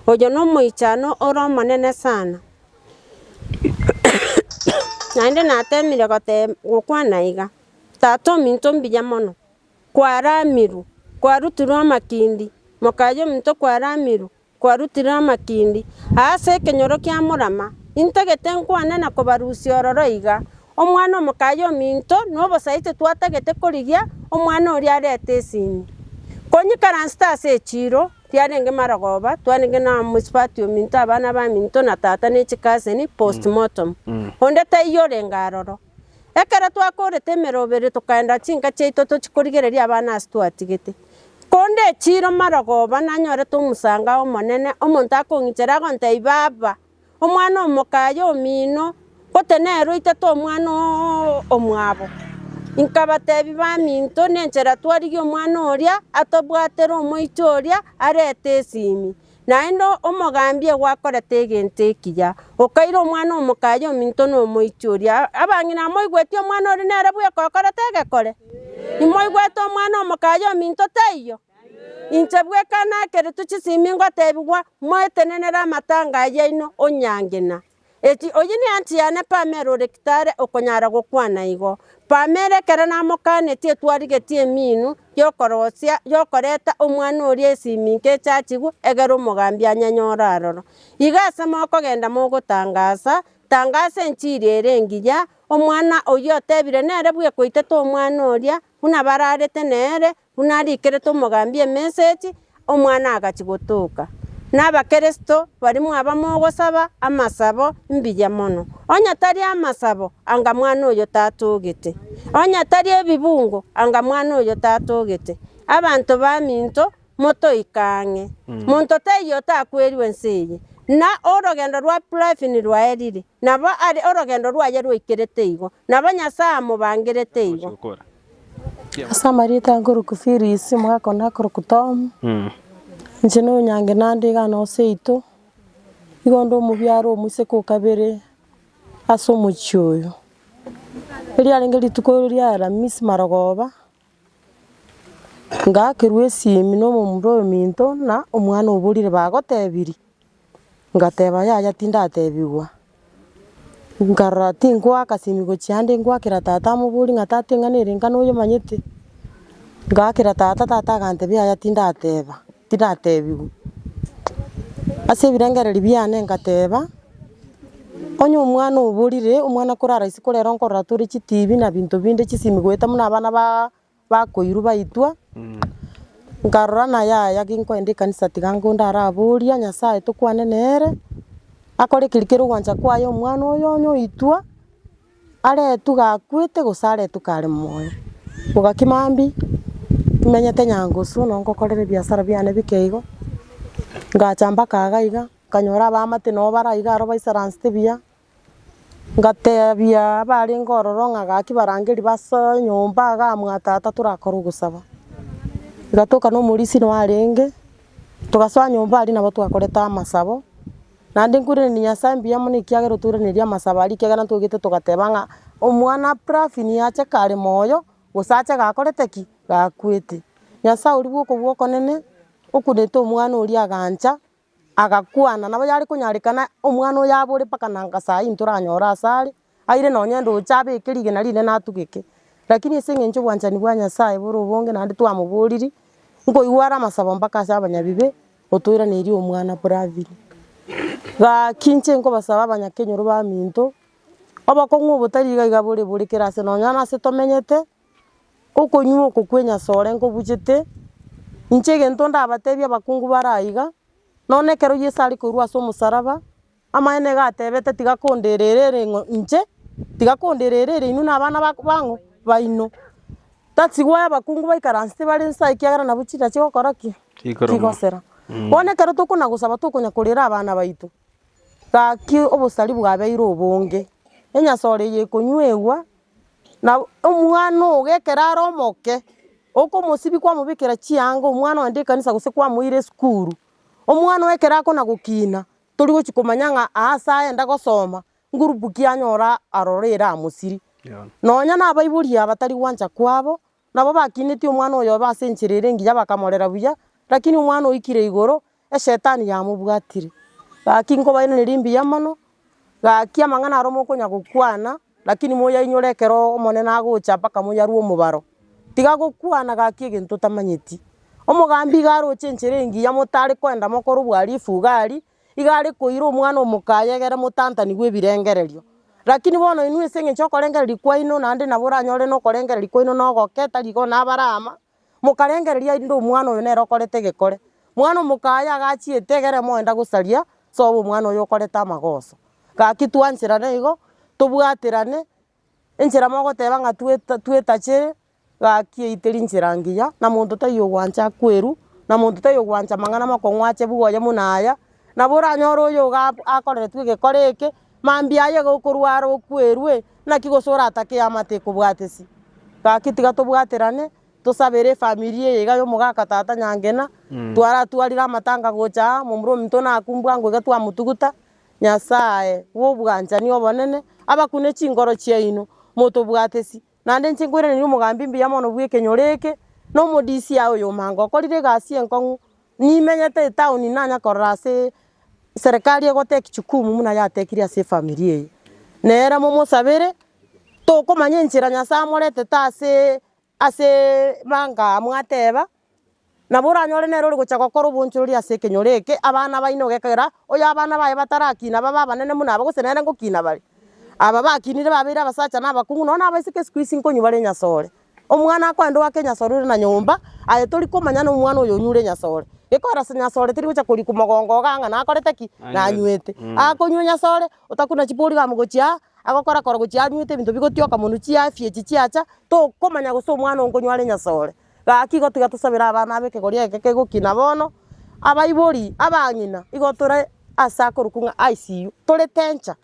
Oyo nomoichano ore omonene sana. Naende natemire goteeb gokwana iga, tata ominto mbuya mono, kwaramirwe, kwarutirwe amakindi, mokaye ominto kwaramirwe. Kwarutire amatindi aase ekenyoro kia morama, intagete nkwane na kobarusia ororo iga, omwana omokaye ominto nobosaiti twatagete korigia omwana oria arete esini. Konyikaransete ase echiiro, riarenge marogoba, twarenge na omosubati ominto abana baminto na tata ne chikaseni, postmortem. Onde taiyo orenge aroro. Ekero twakoorete emeroberi tokaenda chinka chiaito tochie korigereria abana ase twatigete. Korende echiiro marogoba nanyorete omosango ay'Omonene, omonto akong'ichera agontebia, Baba, omwana omoka aye omino, ngotenenerwe oitete omwana oo omwabo. Nkabatebia, Baminto, nenchera twarigie omwana oria atobwatere omoicho oria arete esimi. Naende omogambia gwakorete egento ekiya, okaira omwana omokaye ominto na omoiti oria. Abang'ina amoigweti omwana oria nere bweka okorete egekore? Imoigwete omwana omokaye ominto, taiyo? Inche bweka nakeretwe chisimi ngotebigwa, Moetenenere amatanga aya aino, onyange na. Eki, oyio neanchi yane Pamela ore Kitale okonyara gokwana igo. Pamela ekero namokanetie twarigetie emiinu y'okorosia y'okoreta omwana oria ase eminto echachigwe egere omogambi anyanyore aroro. Iga ase mokogenda mogotangasa, tangasa enchiri ere engiya, omwana oyio otebire nere bw'ekoitete omwana oria, buna bararete nere, Buna arikerete omogambi emesegi, omwana agachia gotoka, na Abakristo barimo abamo ogosaba amasabo mbuya mono. Onye tari amasabo, anga mwana oyo tatogete. Onye tari ebibungo, anga mwana oyo tatogete. Abanto baminto, motoike ang'e. Monto teiyo otakwerigwe ense eye, na orogendo rwa Plavin rwaerire. Nabo are orogendo rwaye rwaikerete igo, nabo Nyasae amobangerete igo. Ase amarieta aya nkorokwa Phyllis, omogaka onde akorokwa Tom. Inche na onyange naende iga nonsi yaito, nigo nde omobiaro omoiseke o kabere ase omochie oyo. Erio riarenge rituko ria Alamisi marogoba. Ngaakerwa esimi na omomura ominto na omwana oborire bagotebirie, ngateba yaya tindatebigwa, nkarora tinkoa agasimi gochia ande ngoakera tata amoborie ng'a tata eng'ana ere engano oyemanyete? Ngaakera tata, tata agantebia yaya tindateba. Tiratebiwu, ase ebirengererio biane ngateba, onye omwana oborire, omwana kore arahisi korera nkorora tore chitibi na binto binde chisimi goeta buna abana ba- bakoirwa baitwa, nkarora ng'a yaya ki nkoenda ekanisa tiga nkonde araboria Nyasaye tokwane nere, akore keri kere ogwancha kwaye omwana oyo onye oitwa. Aretwe gakwete gose aretwe kare moyo. Ogaki mambia nimenyete nyangusu nabo ngokorera ebiasara biane bike igo, ngacha mpaka iga iga, nkanyora abamate nabo bare iga aro baisaransete buya, ngatebia abarenge ororo ng'a gaki barangeri basoe nyomba iga amo na tata torakore ogosaba. Igatoka na omorisia noyo arenge, togasoa nyomba aria nabo twakorete amasabo. Naende nkwiranerie Nyasae mbuya mono ekiagera otwiraneire amasabo aria ekiagera ntogete togateba ng'a omwana Pravi niye ache kare moyo gose ache gakorete ki? gakwete. Nyasae oria bw'oka bw'okonene okunete omwana oria agancha agakwana nabo yare konyarekana omwana oyo abore mpaka nanga saa hii ntoranyore asare. aire nonya ndoche abeke rigena rinde natugeke, rakini ase eng'encho obwanchani bwa Nyasaye bore obonge naende twamoboriri, nkoigwa are amasabo mpaka ase abanyabibe, otoiranerie omwana Bravin. Gaki inche nkobasaba abanyakenyoro baminto, obokong'u obotari iga iga bore bore kera ase nonya na ase tomenyete, okonywa oko kwe nyasore nkobuchete, inche egento ndabatebie abakungu bare aiga, nonya ekero Yeso arekorwa ase omosaraba. Amaene iga atebete, tiga konderereria ng'o inche, tiga konderereria inwe na abana ba- bang'o baino. Tasi goa abakungu baikaransete bare inse aa ekiagera nabwo chida chigokora ki? Chikoroma. chigosera. Bono ekero tokona gosaba tokonya korera abana baito, gaki obosari bwabeire obonge, enyasore eye ekonywegwa, nabo omwana ogo ekero are omoke, okomosibia kwamobekera chianga omwana ogenda ekanisa gose kwamoira esukuru, omwana oye ekero akona gokina, tori gochi komanya ng'a aase aya enda gosoma ngurupu ki anyora aroro ere amosiri. Nonya nabaibori abatari gwancha kwabo, nabo bakinetie omwana oyobe ase enchera ere engiya bakamorera buya, lakini omwana oikire igoro, Eshetani yamobwatire. Gaki nkobairaneria mbuya mono, gaki amang'ana aro mokonya gokwana, Lakini moyainyore ekero Omonene agocha mpaka moyarue omobaro, tiga gokwana gaki egento otamanyeti. Omogambi iga aroche enchera engiya motari koenda mokore obwarifu iga aria, iga are koira omwana omoka ayegere motantani bw'ebirengererio. Lakini bono inwe ase engencho y'okorengereria kwaino, naende nabo oranyore na okorengereria kwaino na ogoke, tari igo nabare ama. mokarengereria erinde omwana oyo nere okorete egekore. Mwana omokaye agachiete egere moenda gosaria sobo omwana oyo okorete amagoso. Gaki twancherane igo, tobwaterane, enchera mogoteba ng'a tweta twetache gaki eiteri nchera ngiya, na monto taiyo ogwancha kwerwa, na monto taiyo ogwancha amang'ana amakong'u ache buna aya, nabo oranyore oyo iga akoreretwe egekore eke, Mambia aye iga okorwa are okwerwe, naki gose oratake eama tekobwatesi? Gaki tiga tobwaterane, tosabere efamiri eye iga y'omogaka tata Nyangena. Twaratwarire amatanga gocha aa, momura ominto naku mbwango iga twamotuguta. Nyasae bw'obwanchani obonene abakune chinkoro chiaino, motobwatesi, naende inche nkweraneirie omogambi mbuya mono bw'ekenyoro eke, na omodisia oyo omange okorire egasi enkong'u, nimenyete etaoni nanya korora ase serikali egoteki jukumu buna yatekirie ase efamiri eye. Nere momosabere, tokomanya enchera Nyasae amoretete aseee aseee manga mwateba, Nabo oranyore nere ore gochia gokora obonchorori ase ekenyoro eke abana baino gekogera oyo abana baye batarakina babe abanene buna aba, gose nere ngokina bare. Aba bakinire babeire abasacha na abakong'u nonya na abaiseke isiko isi nkonywa bare enyasore. Omwana akoenda oake enyasore ore na nyomba, aye tori komanya na omwana oyo onyure enyasore. Gekogera ase nyasore teri gochia korikwa mogongo iga ng'a nakorete ki? Nanywete. Akonywa enyasore, otakuna chiporigamu gochia aa, agokora kora gochia anywete ebinto bigotioka monwe chiafya echi chiacha, tokomanya gose omwana onkonywa are enyasore. Gaki igo tiga tosabere abana aba ekegori eke kegokina bono, abaibori, abang'ina, igo tore ase akorokwa ng'a ICU, tore danger,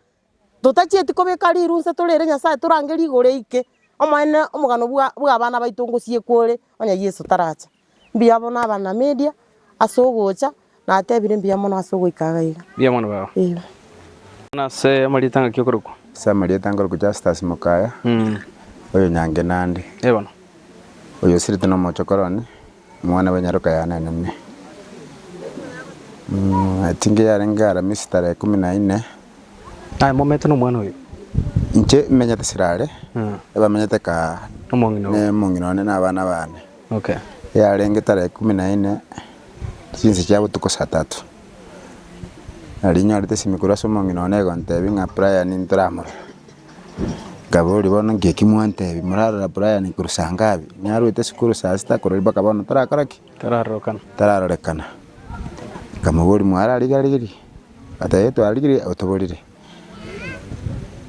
totachieti kobeka riru nse torere Nyasaye torange rigoro eike, omonene omogano bwa bw'abana baito ngosiekwa ore, onye Yeso taracha. Mbuya bono abana media ase ogocha. Natebire, Mbuya mono ase ogoika iga iga. Mbuya mono baba. Eeh. Buna ase amarieta ngaki okorokwa? Ase amarieta nkorokwa Justus Mukaya, oyo nyange nande. Ee bono. Oyo osirete nomochokoro one, omwana bwenyaroka yanenene. Etinga yarenge Aramisi tarehe ikomi na ine. Aye momete nomwana oyo? Inche menyete Sirare, ebamenyete kaa. Nomong'ina obo. Nomong'ina one nabana bane. Yarenge tarehe ikomi na ene chinsa chia botuko saa tatu, nario nyorete esimi korwa ase omong'ina one egontebia ng'a Brian ntoramorore, nkaboria bono nki eki mwantebia, morarora Brian korwa saa ngapi? Narwete esukuru saa sita korwa mpaka bono torakora ki? Tararorekana. Nkamoboria mwararigereiri? Gateba ee twararigereiri otoborire.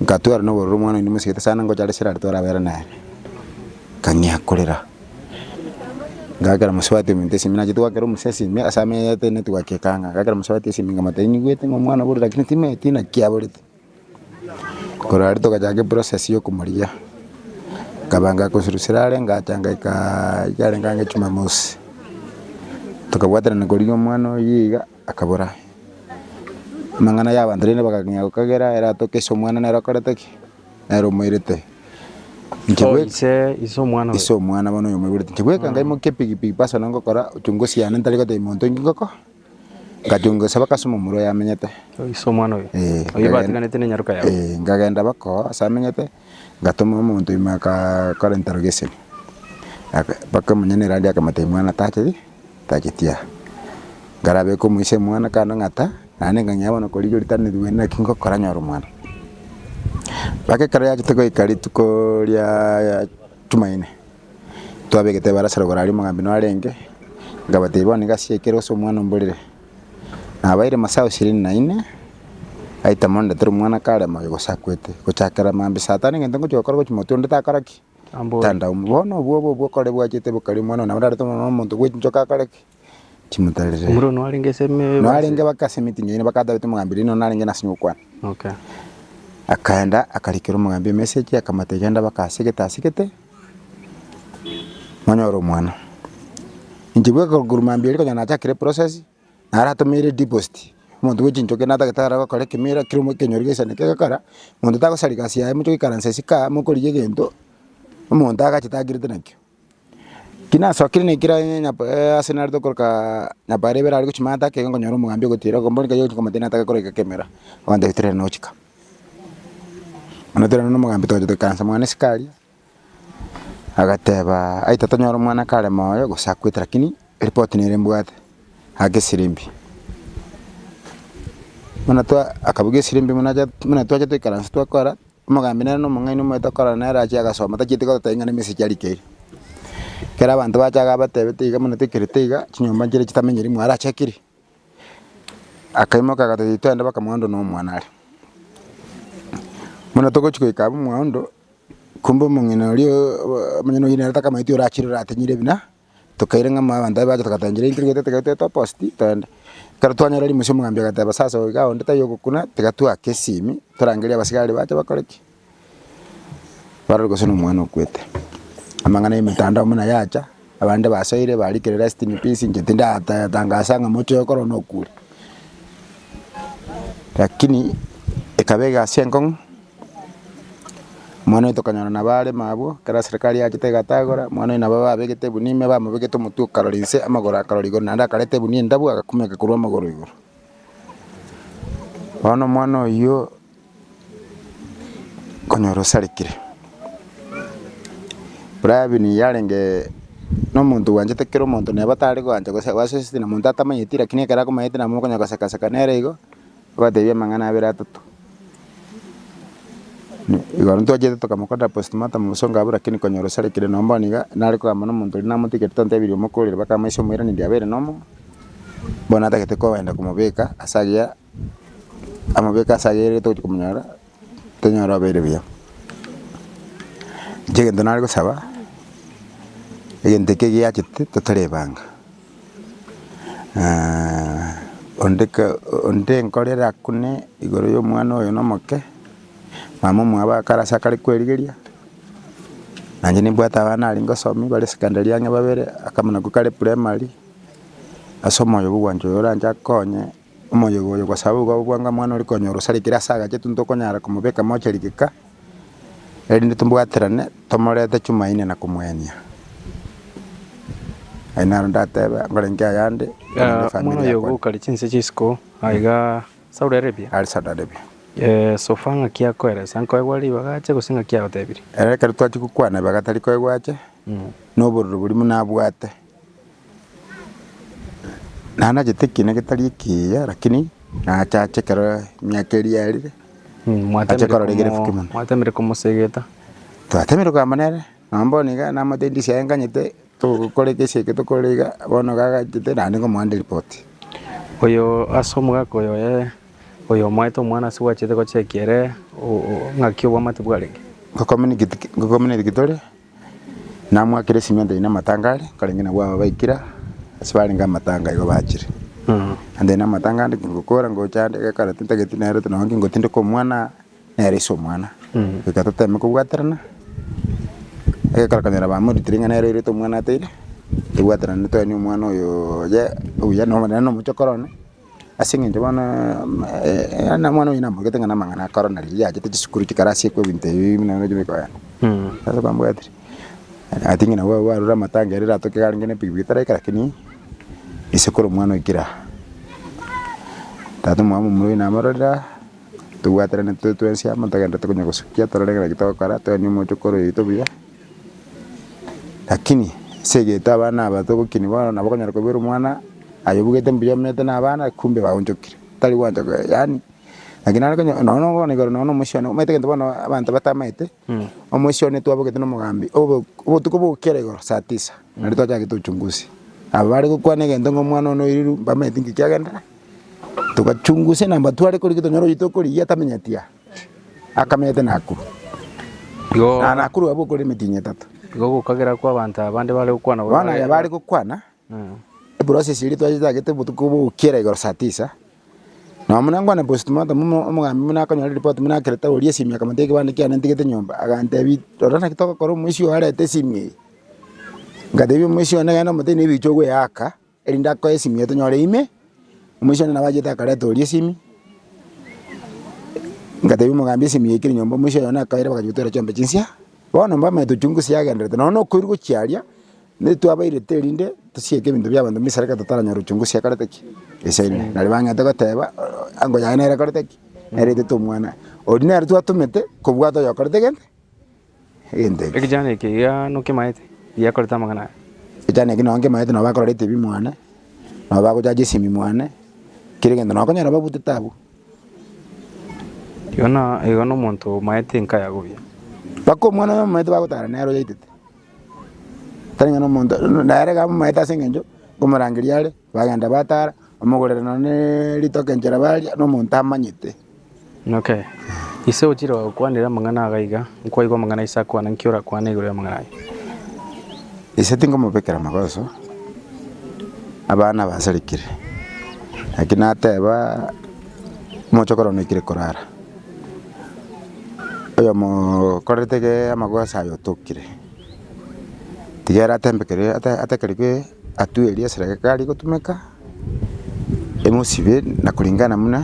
Nkatwara nobororo omwana oino mosigete sana ngocha are sirare twarabera nere, nkang'ea korera, ngakera mosubati ominto twasimire nache twakera omosia asime ase ameete netwake ekanga, ngakera mosubati asime nkamotebia nigwete ng'a omwana oborire lakini timeti naki aborete, korwa aria togachaka eprocess ya okomorigia, nkaba ngakoseru sirare ngacha ngaikaa ekero arenge ang'e jumamosi, tokabwaterana korigia omwana oyio iga. Akabora amang'ana y'abanto, rende bagakenya gokagera ere atoke ase omwana nere okorete ki? Nere omoirete. Inche Oh, bweka ise, ise omwana oyo. ise omwana bono oyo moigurete inche bweka ngaimokia epigipigi paso na ngokora uchunguzi yane ntari gotebia monto inki ngoko ngachunga gose mpaka ase omomura oyo amenyete Oh, ise omwana oyo. Eh, Oyo ngagenda- batiganete nenyaroka yao. eh, ngagenda bako ase amenyete ngatoma omonto ime akakora interrogation Aka- mpaka omonene rande akamotebia mwana tache Tageti aa, nkarabeke omoise omwana kando ng'ata, naende nkang'ea bono kore rirorio tari neriweene naki ngokora nyore omwana. Mpaka ekero yachete goika rituko riaaa Jumaine, twabegete ebarasa rogoro aria omogambi narenge, nkabatebia bono nigo ase ekero ase omwana omborere. Nabaeire masaao ishirini na ine, aitama ondetere omwana kare moyo gosakwete, gochakera mambia saa tano egento ngochia gokora ogochia motwe onde takora ki? Tanda omo. Bono obwo obo bokore bwachete bokari Omwana one, abararete omobaro bw'omonto bw'enchoka akore ki? Timotarire. Omorero noarenge ase emebasi. Noarenge bake ase emitinyo eye, bakatabete omogambi rirorio narenge nase nyokokwana. Okay. Akaenda akarikera omogambi emesegi akamotebia genda bake ase gete ase gete monyore omwana. Inche bweka korwa mambia erio konya nachakire eprocess, naratomeire deposit, omonto bwe chinchoki natagete are gokora ekemira kero mo ekenyoro gesanete egekora, monto tagosarigwa ase yaye moche goikaransa isiko aa mokorigia egento, omonto agachete agirete nakio. Ki nasokire na ekira nyanyapa ase narete okorokaa nyapara ibere aria gochia mata ake iga nkonyora omogambi ogotira ogo mbori nkayogochia komotebia nataka gokora eke kemera, ogantebia tere nochika. Nabo ekero nomogambi togochia toikaransa mwane isiko aria. Agateba, Aye tatonyora omwana kare moyo, gose akwete, lakini eripoti nere mbwate, ake esirimbia. Buna twa akabugia esirimbia buna acha buna twacha toikaransa twakora, omogambi nere na omong'aini omoyio tokorana nere achie agasoma, tachieti gototebia ng'a ne emessage arikeirie. Ekero abanto bacha iga abatebete iga buna toikerete iga, chinyomba nchire chitamenyiri imwe are achakiri, akaimoka agateba titwende mpaka mogondo na omwana are. Buna togochi goika abwo mogondo. Korende omong'ina oria omonyene oyio nere takamaeti orachire oratenyire ebina, tokaira ng'a amo abanto baria bacha togatenchera intwe rigete tiga toete opost toende. Ekero twanyora rimusia omogambi agateba sasa oyo iga onde taiyo ogokuna tiga twake esimi torangerie abasigari bache bakore ki? Barore gose nomwana okwete. Amang'ana ya emetandao buna yacha. Abande basoire barikire rest in peace inche tindatangasa ng'a mochie oye korwa nokure lakini ekaba egasi enkong'u mwana oye tokonyora nabo aremo abwo ekero serikari yachete egatagora mwana oye nabo babegete ebunua ime bamobegete omotwe okarora inse amagoro akarora igoro naende akareta egunia endabu agakumeka korwa amagoro igoro bono omwana oyio. konyora osarekire. Brian yarenge nomonto bwanchete kera omonto neba tare koancha gose gwaseseti na monto atamanyeti lakini ekero akomanyete nabo mokonya goseka seka nere igo, obatebia amang'ana abere atato. Igo aria ntwachete tokamokorera postmortem bosongo abwo lakini konyora osarekire nonye bono iga nare kogamba na omonto oria namotigete tontebirie omokorire baka amaise omoiraneria abere nomo, bono natagete koenda komobeka ase agiya amabiko ase aya ere togochia komonyora, tonyore obeire buya. Inche egento nare gosaba, egento ekio giachete totari ebanga onde ka onde nkorera kune igoro ya omwana oyo na omoke, mama omwabo akare ase akare kwerigeria, na inche nimbwate abana aria ngosomia bare secondary ang'e babere, akamo nako kare primary, ase omoyo bwa ogwancha oyo oranche akonye. Omoyogo oyo gwasaboa igo ababwanga omwana ore konya orosarigire ase agache tintwe okonyara komobeka moche rigika, erinde tombwaterane tomorete Chumaine na komoenia. Ayio naro ndatebe nkorenge ayande korende omwana efamiri oyogo yakwane. okare chinse chisiko aiga Saulo erebia, Are Saulo arebia, "Eh, sofa ng'aki akoeresa, nkoegware ribaga ache gose ng'aki agotebirie? Ere ekero twachia gokwana ribaga tari koegwa ache, na obororo boria buna abwate. Naye nachete ekiina getari ekiya, lakini nachache ekero emiaka eria yarire, nache korora egere efuki mono. mwatemire komosegeta Twatemire koyama nere, nonya bono iga namate ndisia aye nganyete, togokora egesi eke tokorire iga, bono iga agachete naende ngomoande ripoti. oyo ase omogaka oyo oye oyo omoete omwana ase gwachete gochekia ere o- o- ng'aki obwamate bwarenge. Ngokominitiki ngokominitiki tore. Namwakire esimenti aye namatanga are, nkarenge nabwo aba baikire ase barenge amatanga igo bachire. Ande aye namatanga ande kingokora ngocha ande gekara tintageti nere oti nonye kingotindeka omwana nere ase omwana. Goika toteme kobwaterana, egekara okonyora bamoritire ng'a nere oirete omwana ateire, tobwaterane toenie omwana oyo oye obuya nonya nomochokoro one. Ase engencho bono omwana oye namorogete ng'a namang'ana akoro na riria yachete chisukuru chikarasi ekwe ebinto ebi buna ebi bikoba yaani. Ase bambwatire I think nabo abwo barure amatanga ere eratoke iga arenge na epikipiki taraika lakini isekuru omwana oikire aa. Tata omwabo momura oyo namororire aa tobwaterane tore twensi amo togenderete konya gosukia torore ng'a naki togokora toenie omochokoro oito buya Lakini ase egeto abana aba togokinia bono nabo okonyora kobeera omwana aye obugete mbuya omanyete na abana kumbe baonchokire tari gwancha koba yaani lakini nare konye nonye na bono igoro nonye na omochie one omanyete egento bono abanto batamaete omochie one twabogete na omogambi obo obotuko bwa gokera igoro saa tisa nari twachagete tochungusie aba bare gokwana egento ng'a omwana one oiriru mbamaeti nki kiagenderera togachungusia namba tware korigia tonyore oyio tokorigia tamenyeti aa. Akamete Nakuru. Igo. Na Nakuru abwo okore emitinyi etato. Igo gokagera kwa abanto aba bande bare gokwana gore. Bono aya bare gokwana. Eprocess eria twachitagete obotuko bogokiera igoro saa tisa. Nonya buna nkwane postmortem omogambi buna akonyora report buna akerete oria esimi akamotia ekebande kiane ntigete nyomba. Agantebia rora naki togokora omoisia oyo arete esimi eye. Ngatebia omoisia one genda omotebi na ebicha ogoeaka. Erinde akoe esimi eye tonyore ime, omoisia one nabo achete akareta oria esimi, ngatebia omogambi esimi yaikire nyomba omoisia oyo one akaire bagachia gotera chiombe chinsia, bono mbamanye tochungusie agenderete nonya nokoirwa gochia aria, netwabairete erinde tosieke ebinto biabanto mbisera ekero totaranyora ochunguzi ekorete ki? Esaini. Nari bang'ete goteba ango yaye nere ekorete ki? Nere etete omwana. Oria nere twatomete kobwata oyo okorete gento. Ekechaano eke iga nokemaete, giakorete amang'ana aya. Ekechaano eke nonya nkemaete nonya bakororete ebi mwane, nonya bagochacha esimi mwane, kera egento nonya okonyora babutete abwo. Igo na igo na omonto omaete enka yago buya. Mpaka omwana oye omomaete bagotara nere oyaitete, tari ng'a na omonto, nere iga amomaete ase eng'encho okomorangeria are. Bagenda bataara, bamogorera nonya ne ritoke enchera baria, na omonto amanyete. Inok. Ise ochire gokwanera amang'ana ago aiga, nkwaigwa amang'ana a ise akwana, nki orakwane igoro y'amang'ana aye? Ise tingomobekera magoso abana abasarikire, naki nateba, Omochokoro one oikire korara, oyomo okorerete ge amagoso aye otokire. Tiga ere atembekere ata- atakerigwe atue eria esera ekare gotumeka, emosibe na kuringana buna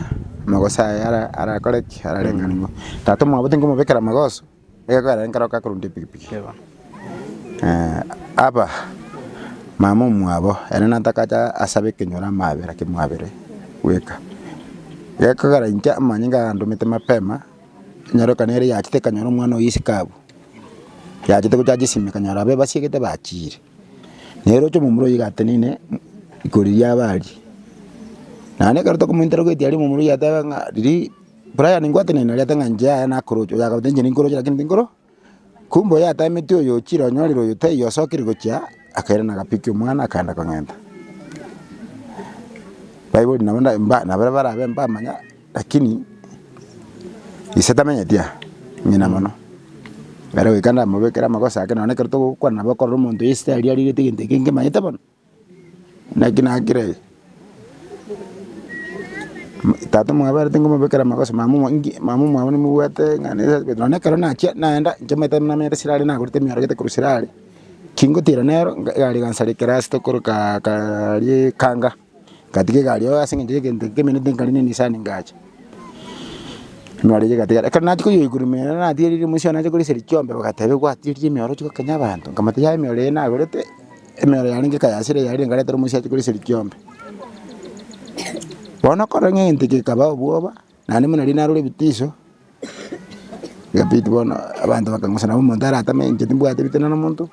amagoso aye ara- arakore ki, ararengerererio. Tata omwabo tingomobekera amagoso, egekogera nere ekero akorenda epikipiki. Aba, mama omwabo, ere natakacha asabe ekenyoro amabera kimwabere bweka. Gekogera inche amanyinga agandomete mapema, Enyarorekano ere yachete ekanyora omwana oye isiko abwo, yachete gochacha esime ekanyora abe basiegete bachiire. Na eroche omomura oye iga ateneine ikoro riria abe aria. Naende ekero tokomointera goetia aria omomura oye atebe ng'a riria Brian ngwateneine aria ate ng'a inche yaya nakoroche, oyagoteba inche ninkoroche lakini tinkoro. Kumbe oyatametwe oyo ochire onyorire oyo taiyo asokire gochia, akairana agapikia omwana, akaenda kong'enta. Baibori nabo nda- mba- nabare barabe mbamanya, lakini ise tamenyeti aa, ng'ina mono. Nere goika ndamobekere amagoso ake, nonye ekero togokwana nabo okorora omonto yesitari arigete egento eke nkemanyete bono. Naki nakire, Tata mwaberete ngomobekera amagoso, mama inki, mama omwabo nimobwate ng'a nere asibete. Nonya ekero nachia naenda, nchamanyete namenyete ase are nagorete emioro gete korwa ase are, kingotira nero, nga egari egansareka ase tokoro ka kaaria ekanga, ngatiga egari oo ase eng'encho yegento ekio kemenete nkare ne Nisani ngacha. Nare yagatigara, ekero nachia koyoigwa ime ere natiga riria omoisia one ache koriseria chiombe, bagateba egwatigeria emioro oche gokenya abanto, nkamata yaya emioro eye nagorete. Emerero yarenge ekayasira eyarire engareti ere omosiache kore esegi kiombe. Bono okorora ng'a egento eke gekaba obwoba, naende buna riria narure ebitiso, egabidi bono abanto bakang'usana nabo omonto aratame ng'a inche timbwate ebitina na omonto,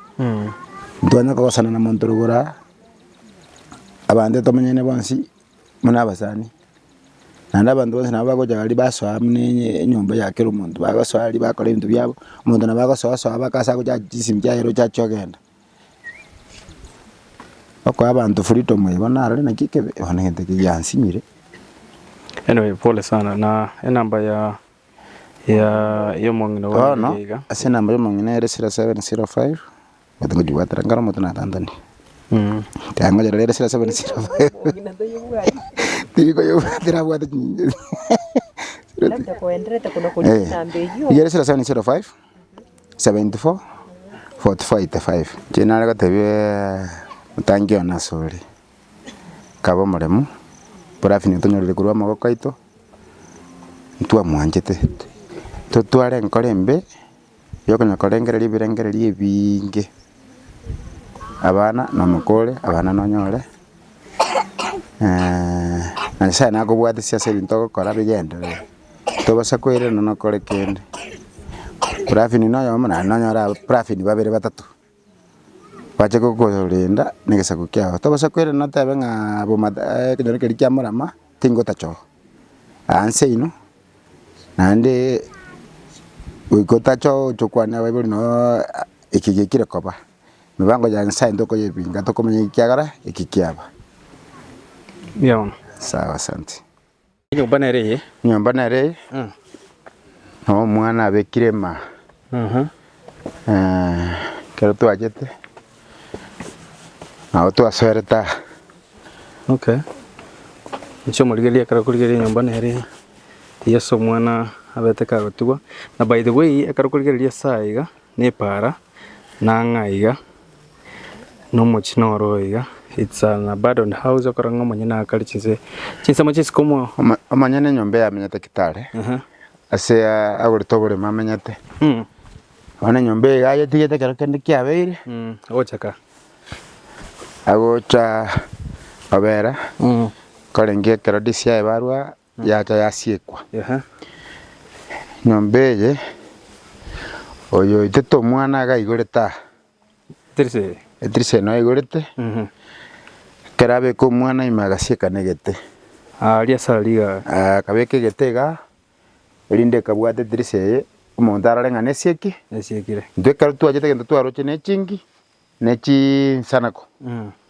ntitwanya kogosana na omonto rogoro aa, abanto tomenyane bonsi buna abasani, naende abanto bonsi nabo bagocha gari basoa buna enye- enyomba ya kera omonto, bagosoa aria bakora ebinto biabo, omonto nabo agosoa soa baka ase agocha chisemi chiaye roche achia ogenda. Okoa abanto freedom eye bono narore naki ekebe bono egento ekio giansinyire. Anyway pole sana na enamba ya ya ya omong'ina one Bono eria iga ase enamba y'omong'ina ere 0705 omanyete ngojigwatera nkare omonto natantanie. Mm. Taya ngoyera rero 0705 tiri koyebwatera abwate chinyinga. Labda koenderete kono Eh. korisia namba eyio. Igere 0705 74.45 Inche nare gotebia omotangi one ase ore, kabe omoremu, barafinyo tonyorire korwa amaboko aito, ntwamwanchete, totware enkoro embe, yokonya korengereria ebirengererio ebiinge. abana nomoko ore abana nonyore, na Nyasaye nakobwatesie ase ebinto ogokora bigenderere, tobasa koirana nokore kende, praffini na oyomo naende nonyore aba praffini babere batato, bache kokorenda negesaku kiago, tobasa koirana otebe ng'aa boma ekenyoro keria kia morama tingotachoka. Aanse inwe, naende goika otacha gochia okwania abaibori noo eki giaikire koba. Emibango ya Nyasae ntokoyebinga tokomanya ekiagera eki kiaba. Mbuya mono. Sawa asante. Enyomba nere eye. Enyomba nere eye. Omwana abekire maa. Ekero twachete nabo twasoerete aa. Okay, inche omorigereria ekero okorigereria enyomba nere Yeso omwana abete kagotigwa, na by the way ekero okorigereria ase aya iga na epaara na ang'aa iga na omochie noro oo iga it's an abandoned house okora ng'a omonyene akare chinse chinsemo chinsike omo. Omonyene enyomba eyamenyete ekero tare. Ase agore toborema amenyete. Bono enyomba eye iga ayetigete ekero kende kiabeire. Agocha ka. Agocha obera korenge ekero disi yaye barwa yacha yasiekwa. Nyomba eye oyo oitete omwana aiga aigorete aa. Etirisa eye. Etirisa eye naigorete, ekero abeka omwana ime agasiekana egete. Aaria ase aa rigara. Aa akabeka egete iga, erinde ekabwata etirisa eye, omonto arore ng'a nesiki, Esiekire. intwe ekero twachete egento twaroche ne echingi, ne chinsanako.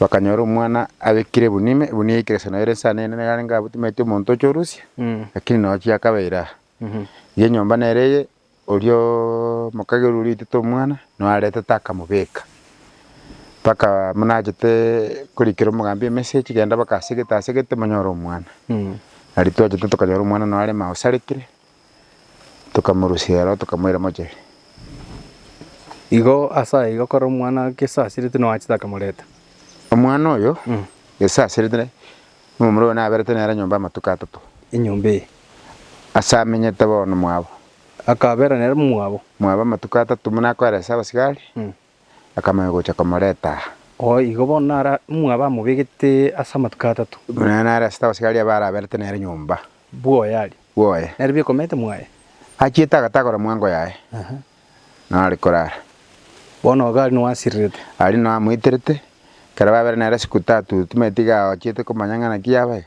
Bakanyora omwana abekire ebunio ime, ebunio yaikire sana ere ense anene, nigo arenge abotimetie omonto ocha orusia, lakini nonya ochia akabeire aa. Iga enyomba nere eye, orioo omokairu oria oitete omwana, no aretete akamobeka. Mpaka buna achete korikera omogambi emessage, genda baka asegete asegete monyore omwana. Nari twachete tokanyora omwana no are maosarekire, tokamorusia aro, tokamoira moche. Igo ase aiga kore omwana gesasirete nonya achete akamoreta. Omwana oyo gesasirete ne nomomura oyo naberete nere nyomba amatuko atato. Enyomba eye. Ase amenyete bono mwabo. Akabera nere mwabo. Mwabo amatuko atato buna akoeresa abasigari. akamanya gocha komoreta aa. Oo igo bono naro omwabo amobegete ase amatuko atato. Buna nare asete abasigari abwo araberete nere nyomba. Bwoye aria. Bwoye. Nere bikomete mwaye. Achiete agatagora mwango yaye. Nao are korara. Bono iga aria nao asirirete. Aria nao amoiterete. Ekero babere nere ase Kutatu, timanyeti iga aochiete komanya ng'a naki yaba iga.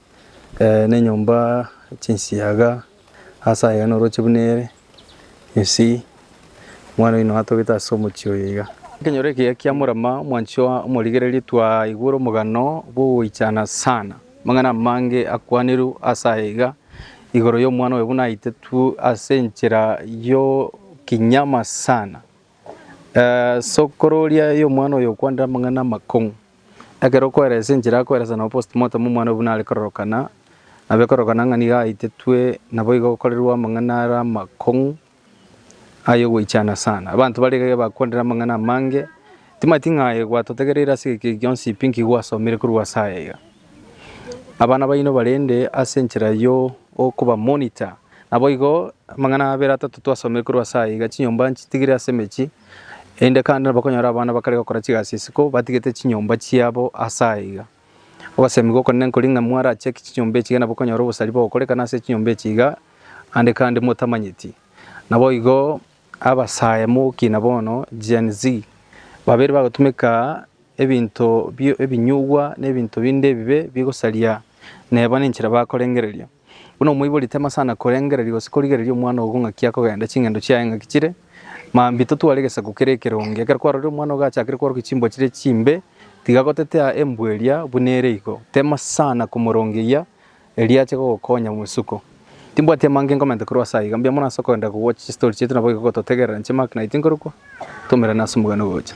nenyomba chinsiaga ase aye iga oroche buna ere gesi omwana oino atogete ase omochie oyo iga. Ekenyoro ekiya kia Murama omwanchwa omorigereria twaigwe ore omogano bw'ogoichana sana, amang'ana amange akwanirwe ase aye iga igoro y'omwana oyo buna aitetwe ase enchera y'okinyama sana. Sokoro oria y'omwana oyo okwanire amang'ana amakong'u. Ekero okoeresa enchera akoeresa nabo postmortem omwana oyo buna are kororokana, abe kororokana ng'a nigo aitetwe naboigo okorerwa amang'ana are amakong'u ay'ogoichana sana. Abanto bare iga bakwanire amang'ana amange, timanyeti ng'a aye gwatotegereire ase egeki gionsi pi nkigwasomire korwa ase aya iga. Abana baino barende ase enchera y'okoba monitor. Naboigo amang'ana abere atato twasomire korwa ase aiga, chinyomba nchitigire ase emechie, erinde kande nabo bakonyora abana bakare gokora chigasi isiko batigete chinyomba chiabo ase aiga. Ogosemigwa okonene nkori ng'a mwarachaki chinyomba echi iga nabo okonyora obosari bogokorekana ase chinyomba echi iga ande kande motamanyeti. Naboigo abasae mogokina bono, Gen-Z, babere bagotumeka ebinto ebinyugwa na ebinto binde ebibe bigosaria nebo nenchera bakorengereria. Buna omoibori temasana korengereria gose korigereria omwana ogo ng'aki akogenda ching'endo chiaye ng'aki chire, mambia totware egesaku kere ekeronge. Ekero kwarorire omwana ogachakire kworokia chimbwa chire chimbe, tiga gotetea embwa eria buna ere igo, temasana komorongeyia erio ache gogokonya mwesuko. Timbwati amange nkomenta korwa ase aiga, mbuya mono ase okogenda kogwocha chistori chiaito nabo igo gototegerera inche Mark na Iti nkorokwa, twaumerane ase omogano ogocha.